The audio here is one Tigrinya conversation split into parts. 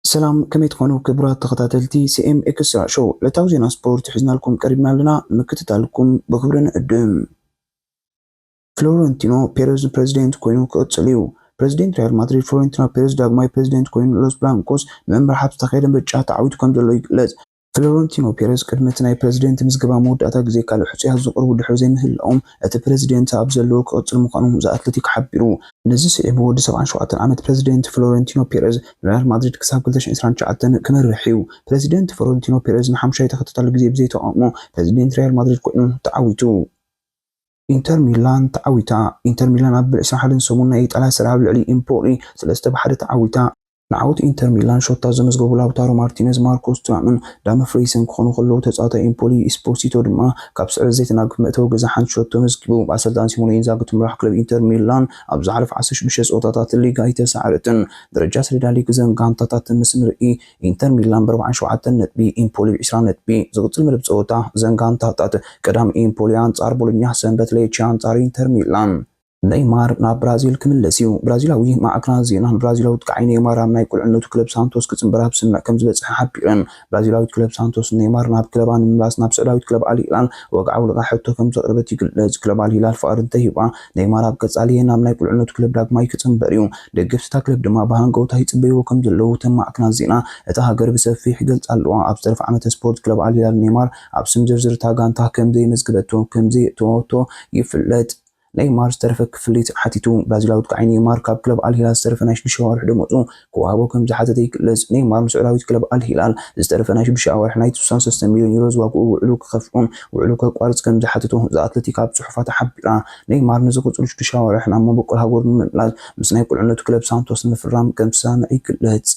ሰላም ከመይ ትኾኑ ክብራት ተኸታተልቲ ሲኤም ኤክስትራ ሾው ዕለታዊ ዜና ስፖርት ሒዝናልኩም ቀሪብና ኣለና ንምክትታልኩም ብኽብሪ ንዕድም። ፍሎረንቲኖ ፔረዝ ንፕረዚደንት ኮይኑ ክቕጽል እዩ። ፕረዚደንት ሪያል ማድሪድ ፍሎረንቲኖ ፔረዝ ዳግማይ ፕረዚደንት ኮይኑ ንሎስ ብላንኮስ ንምምራሕ ኣብ ዝተኻየደ ምርጫ ተዓዊቱ ከምዘሎ ይግለጽ። ፍሎረንቲኖ ፔረዝ ቅድሚ እቲ ናይ ፕረዚደንት ምዝገባ መወዳእታ ግዜ ካልእ ሕጹያት ዘቕርቡ ድሕሪ ዘይምህላዎም፣ እቲ ፕረዚደንት ኣብ ዘለዎ ክቕጽል ምዃኑ ዘ ኣትለቲክ ሓቢሩ። ነዚ ስዒቡ ወዲ ሰብዓን ሸውዓተን ዓመት ፕረዚደንት ፍሎረንቲኖ ፔረዝ ንሪያል ማድሪድ ክሳብ ክልተ ሽሕን ዕስራን ትሽዓተን ክመርሕ'ዩ። ፕረዚደንት ፍሎረንቲኖ ፔረዝ ንሓሙሻይ ተኸታታሊ ግዜ ብዘይ ተቓውሞ ፕረዚደንት ሪያል ማድሪድ ኮይኑ ተዓዊቱ። ኢንተር ሚላን ተዓዊታ። ኢንተር ሚላን ኣብ ዕስራን ሓደን ሰሙን ናይ ኢጣልያ ሰሪኣ ኣብ ልዕሊ ኢምፖሊ ሰለስተ ብ ሓደ ተዓዊታ። ንዓወት ኢንተር ሚላን ሾታ ዘመዝገቡ ላውታሮ ማርቲነዝ፣ ማርኮስ ቱራምን ዳምፍሪይስን ክኾኑ ከለዉ፣ ተጻዋታይ ኤምፖሊ ኢስፖሲቶ ድማ ካብ ስዕረት ዘይተናግፍ መእተዊ ገዛ ሓንቲ ሸቶ ኣመዝጊቡ። ብኣሰልጣኒ ሲሞነ ኢንዛጊ እትምራሕ ክለብ ኢንተር ሚላን ኣብ ዝሓለፉ ዓሰርተ ሽዱሽተ ጸወታታት ሊግ ኣይተሳዕረትን። ደረጃ ሰሌዳ ሊግ እዘን ጋንታታት ምስ ንርኢ፣ ኢንተር ሚላን ብኣርብዓን ሸውዓተን ነጥቢ፣ ኤምፖሊ ብዕስራን ነጥቢ። ዝቕጽል መደብ ጸወታ እዘን ጋንታታት፣ ቀዳም ኤምፖሊ ኣንጻር ቦሎኛ፣ ሰንበት ሌቼ ኣንጻር ኢንተር ሚላን። ነይማር ናብ ብራዚል ክምለስ እዩ። ብራዚላዊ ማዕከናት ዜና፣ ንብራዚላዊ ጥቃዓይ ነይማር ኣብ ናይ ቁልዕነቱ ክለብ ሳንቶስ ክጽንበር ኣብ ስምምዕ ከምዝበጽሐ ሓቢረን። ብራዚላዊት ክለብ ሳንቶስ ንነይማር ናብ ክለባ ንምምላስ ናብ ስዑዳዊት ክለብ ኣል ሂላል ወግዓዊ ልቓሕ ሕቶ ከምዘቕረበት ይግለጽ። ክለብ ኣል ሂላል ፍቓድ እንተሂባ፣ ነይማር ኣብ ቀጻሊ ናብ ናይ ቁልዕነቱ ክለብ ዳግማይ ክጽንበር እዩ። ደገፍቲ እታ ክለብ ድማ ብሃንቀውታ ይጽበይዎ ከምዘለዉ እተን ማዕከናት ዜና እታ ሃገር ብሰፊሕ ይገልጻ ኣለዋ። ኣብ ዝተረፈ ዓመተ ስፖርት ክለብ ኣል ሂላል ነይማር ኣብ ስም ዝርዝር እታ ጋንታ ከምዘይመዝገበቶ ከምዘየእተወቶ ይፍለጥ። ነይማር ዝተረፈ ክፍሊት ሓቲቱ። ብራዚላዊ ኣጥቃዓይ ነይማር ካብ ክለብ ኣል ሂላል ዝተረፈ ናይ ሽዱሽተ ኣዋርሕ ደሞዙ ክወሃቦ ከምዝሓተተ ይግለጽ። ነይማር ንስዑዳዊት ክለብ ኣል ሂላል ዝተረፈ ናይ ሽዱሽተ ኣዋርሕ ናይ ስሳን ሰለስተን ሚልዮን ዩሮ ዝዋግኡ ውዕሉ ክኸፍኡን ውዕሉ ከቋርጽ ከምዝሓተቶ ዘ ኣትለቲክ ኣብ ጽሑፋታ ሓቢራ። ነይማር ንዝቕጽሉ ሽዱሽተ ኣዋርሕ ናብ መበቆል ሃገሩ ንምምላስ ምስ ናይ ቁልዕነቱ ክለብ ሳንቶስ ንምፍራም ከምዝሰማምዐ ይግለጽ።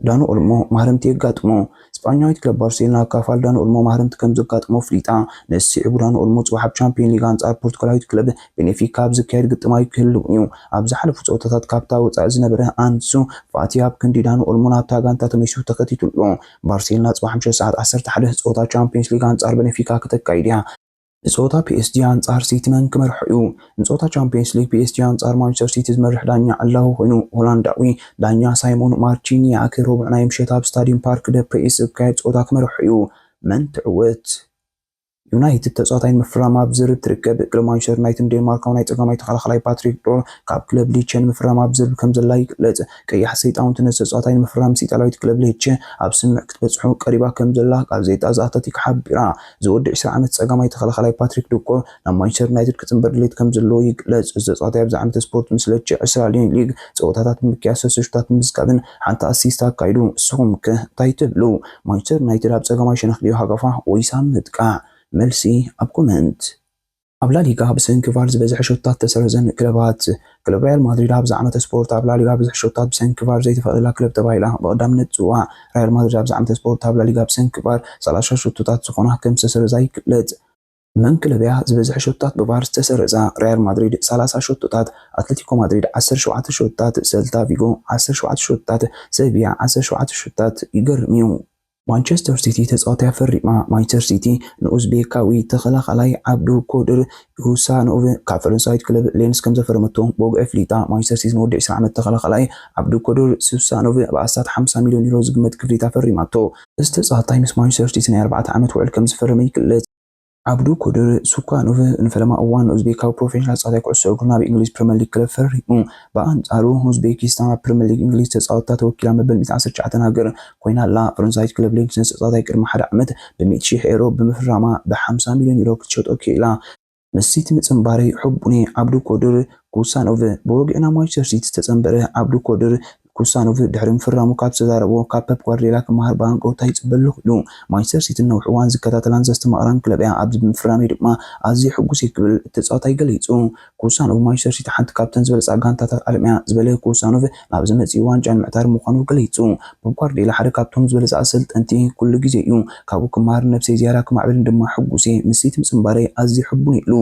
ዳኑ ኦልሞ ማህረምቲ የጋጥሞ። ስጳኛዊት ክለብ ባርሴሎና ካብ ፋል ዳኑ ኦልሞ ማህረምቲ ከም ዘጋጥሞ ኣፍሊጣ። ነዚ ስዒቡ ዳኑ ኦልሞ ጽባሕ ኣብ ቻምፕዮን ሊግ ኣንጻር ፖርቱጋላዊት ክለብ ቤኔፊካ ኣብ ዝካየድ ግጥማ'ዩ ክህልው'ዩ። ኣብ ዝሓለፉ ጸወታታት ካብታ ወጻኢ ዝነበረ ኣንሱ ፋቲ ኣብ ክንዲ ዳኑ ኦልሞ ናብታ ጋንታ ተመሊሱ ተኸቲቱ'ሎ። ባርሴሎና ጽባሕ ምሸት ሰዓት ዓሰርተ ሓደ ጸወታ ቻምፕዮንስ ሊግ ኣንጻር በነፊካ ክተካይድ'ያ። ንጸወታ ፒኤስጂ ኣንጻር ሲቲ መን ክመርሖ'ዩ? ንጸወታ ቻምፕዮንስ ሊግ ፒኤስጂ ኣንጻር ማንቸስተር ሲቲ ዝመርሕ ዳኛ ዕላዊ ኮይኑ፣ ሆላንዳዊ ዳኛ ሳይሞን ማርቺንያክ ረቡዕ ናይ ምሸት ኣብ ስታድዩም ፓርክ ደ ፕሪስ ዝካየድ ጸወታ ክመርሖ'ዩ። መን ትዕወት? ዩናይትድ ተጻዋታይ ንምፍራም ኣብ ዝርርብ ትርከብ። ክለብ ማንቸስተር ዩናይትድ ንዴንማርካዊ ናይ ጸጋማይ ተኸላኻላይ ፓትሪክ ዶር ካብ ክለብ ሌቸ ንምፍራም ኣብ ዝርርብ ከምዘላ ይግለጽ። ቀያሕቲ ሰይጣውንቲ ነዚ ተጻዋታይ ንምፍራም ምስ ኢጣልያዊት ክለብ ሌቸ ኣብ ስምምዕ ክትበጽሑ ቀሪባ ከምዘላ ጋዜጣ ዘ ኣትለቲክ ሓቢራ። እዚ ወዲ ዕስራ ዓመት ጸጋማይ ተኸላኻላይ ፓትሪክ ዶኮር ናብ ማንቸስተር ዩናይትድ ክጽንበር ድሌት ከምዘለዎ ይግለጽ። እዚ ተጻዋታይ ኣብዚ ዓመተ ስፖርት ምስ ለቼ ዕስራ ሊዮን ሊግ ጸወታታት ብምክያድ ሰለስተ ሹታት ብምዝጋብን ሓንቲ ኣሲስት ኣካይዱ። እስኹም ከ እንታይ ትብሉ? ማንቸስተር ዩናይትድ ኣብ ጸጋማይ ሸነኽ ድዩ ሃጋፋ ወይስ ኣብ ምጥቃዕ? መልሲ ኣብ ኮመንት። ኣብ ላሊጋ ብሰንኪ ቫር ዝበዝሐ ሸቶታት ዝተሰረዘን ክለባት። ክለብ ሪያል ማድሪድ ኣብዛ ዓመተ ስፖርት ኣብ ላሊጋ ብዙሕ ሸቶታት ብሰንኪ ቫር ዘይተፈቕደላ ክለብ ተባሂላ ብቐዳምነት ትፅዋዕ። ሪያል ማድሪድ ኣብዛ ዓመተ ስፖርት ኣብ ላሊጋ ብሰንኪ ቫር ሰላሳ ሸቶታት ዝኾና ከምዝተሰረዛ ይግለፅ። መን ክለብ እያ ዝበዝሐ ሸቶታት ብቫር ዝተሰረዛ? ሪያል ማድሪድ ሰላሳ ሸቶታት፣ ኣትለቲኮ ማድሪድ ዓሰርተ ሸውዓተ ሸቶታት፣ ሰልታ ቪጎ ዓሰርተ ሸውዓተ ሸቶታት፣ ሰቪያ ዓሰርተ ሸውዓተ ሸቶታት። ይገርም እዩ። ማንቸስተር ሲቲ ተፃዋታይ ኣፈሪማ። ማንቸስተር ሲቲ ንኡዝቤካዊ ተኸላኻላይ ዓብዱ ኮድር ኢሁሳኖቭ ካብ ፈረንሳዊት ክለብ ሌንስ ከምዘፈረመቶ ብወግዒ ኣፍሊጣ። ማንቸስተር ሲቲ ንወዲ ዕስራ ዓመት ተኸላኻላይ ዓብዱ ኮድር ኢሁሳኖቭ ብ ኣስታት ሓምሳ ሚልዮን ዩሮ ዝግመት ክፍሊት ኣፈሪማቶ። እዚ ተፃዋታይ ምስ ማንቸስተር ሲቲ ናይ ኣርባዕተ ዓመት ውዕል ከምዝፈረመ ይግለፅ። ዓብዱ ኮድር ሱካኖቭ ንፈለማ እዋን ኡዝቤካዊ ፕሮፌሽናል ተጻዋታይ ኩዕሶ እግሩን ኣብ እንግሊዝ ፕሪመር ሊግ ክለብ ፈሪሙ። ብኣንጻሩ ኡዝቤኪስታን ኣብ ፕሪመር ሊግ እንግሊዝ ተጻወትታ ተወኪላ መበል ሚእትን ዓሰርተ ትሽዓተን ሃገር ኮይና ኣላ። ፈረንሳዊት ክለብ ሌንስ ነዚ ተጻዋታይ ቅድሚ ሓደ ዓመት ብሚእቲ ሽሕ ኤሮ ብምፍራማ ብሓምሳ ሚልዮን ዩሮ ክትሸጦ ክኢላ። ምስ ሲቲ ምጽንባረይ ሕቡን'የ፣ ዓብዱ ኮድር ሱካኖቭ ብወግዒ ናብ ማንቸስተር ሲቲ ዝተጸንበረ ዓብዱ ኮድር፣ ክውሳነ ድሕሪ ምፍራሙ ካብ ዝተዛረቦ ካብ ፐፕ ጓርድዮላ ክመሃር ብሃንቀውታ ይጽበ ኣለኹ ኢሉ። ማንቸስተር ሲቲ ንነዊሕ እዋን ዝከታተላን ዘስተማቕራን ክለብ'ያ፣ ኣብዚ ብምፍራመይ ድማ ኣዝየ ሕጉስ'የ ክብል እቲ ተጻዋታይ ገሊጹ። ክውሳኖቭ ማንቸስተር ሲቲ ሓንቲ ካብተን ዝበልጻ ጋንታታት ዓለም'ያ ዝበለ ክውሳኖቭ፣ ናብዚ መጺኡ ዋንጫ ንምዕታር ምዃኑ ገሊጹ። ፐፕ ጓርድዮላ ሓደ ካብቶም ዝበልጸ ኣሰልጠንቲ ኩሉ ግዜ'ዩ፣ ካብኡ ክመሃርን ነብሰይ ዝያዳ ክማዕብልን ድማ ሕጉስ'የ፣ ምስ ሲቲ ምጽንባረይ ኣዝየ ሕቡን'የ ኢሉ።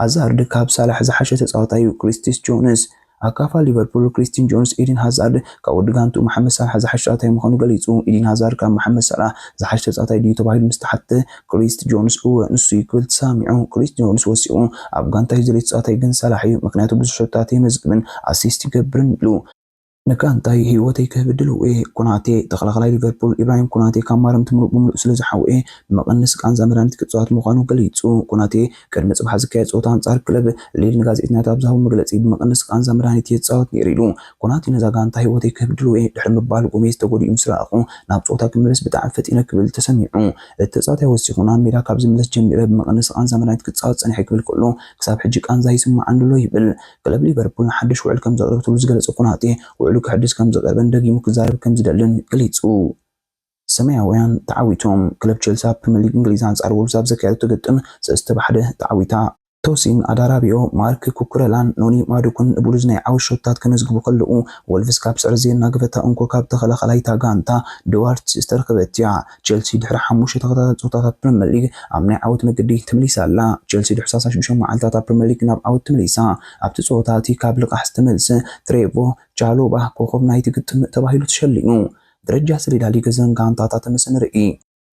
ሃዛርድ ካብ ሳላሕ ዝሓሸ ተጻዋታይ'ዩ፣ ክሪስቲስ ጆንስ። ኣካፋ ሊቨርፑል ክሪስቲን ጆንስ፣ ኢድን ሃዛርድ ካብ ወዲ ጋንትኡ መሓመድ ሳላሕ ዝሓሸ ተጻዋታይ ምዃኑ ገሊጹ። ኢድን ሃዛርድ ካብ መሓመድ ሳላሕ ዝሓሸ ተጻዋታይ ድዩ ተባሂሉ ምስ ተሓትተ፣ ክሪስት ጆንስ እወ ንሱ'ዩ ክብል ተሰሚዑ። ክሪስት ጆንስ ወሲኹ፣ ኣብ ጋንታይ ዝደልዮ ተጻዋታይ ግን ሳላሕ'ዩ፣ ምኽንያቱ ብዙሕ ሸቶታት የመዝግብን ኣሲስት ይገብርን ኢሉ። ንጋንታይ ህይወተይ ክህብድል ውእየ። ኮናቴ፣ ተኸላኻላይ ሊቨርፑል ኢብራሂም ኮናቴ ካብ ማረምቲ ምሉእ ብምሉእ ስለዝሓወየ ንመቐነሲ ቃንዛ መድሃኒት ክጽዋት ምዃኑ ገሊጹ። ኮናቴ ቅድሚ ጽባሕ ዝካየድ ጸወታ ኣንጻር ክለብ ሊል ንጋዜጠኛታት ኣብ ዝሃቦ መግለጺ ብመቐነሲ ቃንዛ መድሃኒት እየ ዝጻወት ነይረ ኢሉ። ኮናቴ ነዛ ጋንታ ህይወተይ ክህብድል ውእየ ድሕሪ ምባል ጎሜዝ ተጎዲኡ ምስ ረኣኹ ናብ ጸወታ ክምለስ ብጣዕሚ ፈጢነ ክብል ተሰሚዑ። እቲ ተጻዋታይ ወሲኹ ናብ ሜዳ ካብ ዝምለስ ጀሚረ ብመቐነሲ ቃንዛ መድሃኒት ክጻወት ጸኒሐ ክብል ከሎ ክሳብ ሕጂ ቃንዛ ይስመዓኒ'ሎ ይብል። ክለብ ሊቨርፑል ሓድሽ ውዕል ከም ዘቕረበትሉ ዝገለጸ ኮናቴ፣ ውዕሉ ከሐድስ ከም ዝቐርበን ደጊሙ ክዛረብ ከም ዝደልን ገሊጹ። ሰማያውያን ተዓዊቶም። ክለብ ቼልሲ ኣብ ፕሪመር ሊግ እንግሊዝ ኣንጻር ዎልቭስ ኣብ ዘካየደቶ ግጥም ሰለስተ ብ ሓደ ተዓዊታ። ቶሲን ኣዳራቢኦ፣ ማርክ ኩኩረላን ኖኒ ማዱኩን ንቡሉዝ ናይ ዓወት ሸቶታት ከመዝግቡ ከለዉ፣ ዎልቭስ ካብ ስዕረት ዘየናገፈታ እንኮ ካብ ተኸላኻላይ'ታ ጋንታ፣ ድዋርት ዝተረኽበት'ያ። ቸልሲ ድሕሪ ሓሙሽተ ተኸታታሊ ጸወታታት ፕሪመር ሊግ ኣብ ናይ ዓወት መገዲ ተመሊሳ ኣላ። ቸልሲ ድሕሪ ሰላሳን ሽዱሽተን መዓልታት ኣብ ፕሪመር ሊግ ናብ ዓወት ተመሊሳ። ኣብቲ ጸወታ እቲ ካብ ልቓሕ ዝተመልሰ ትሬቮ ቻሎባ ኮኾብ ናይቲ ግጥም ተባሂሉ ተሸሊሙ። ደረጃ ሰሌዳ ሊግ እዘን ጋንታታት ምስ ንርኢ።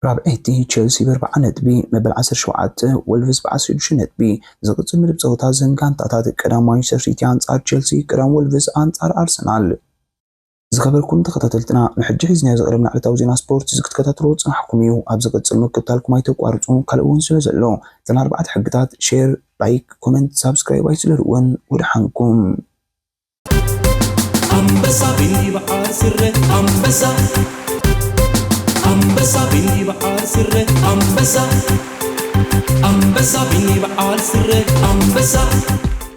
ራብዐይቲ ቸልሲ ብኣርብዓ ነጥቢ፣ መበል ዓሰርተ ሸውዓተ ወልቭስ ብዓሰርተ ሽዱሽተ ነጥቢ። ዝቕጽል መደብ ጸወታ እዘን ጋንታታት ቀዳማይ ማንቸስተር ሲቲ ኣንጻር ቸልሲ፣ ቀዳም ወልቭስ ኣንጻር ኣርሰናል። ዝከበርኩም ተከታተልትና ንሕጂ ሒዝናዮ ዝቀረብና ዕለታዊ ዜና ስፖርት እዚ ክትከታተልዎ ዝጸናሕኩም እዩ ኣብ ዝቅጽል ምክትታልኩም ኣይተቋርጹ ካልእ ውን ስለ ዘሎ እተን ኣርባዕተ ሕግታት ሼር ላይክ ኮመንት ሳብስክራይብ ኣይትስለልወን ወደሓንኩም ኣንበሳ ብይብዓል ስረ ኣንበሳ ኣንበሳ ብይብዓል ስረ ኣንበሳ ኣንበሳ ብይብዓል ስረ ኣንበሳ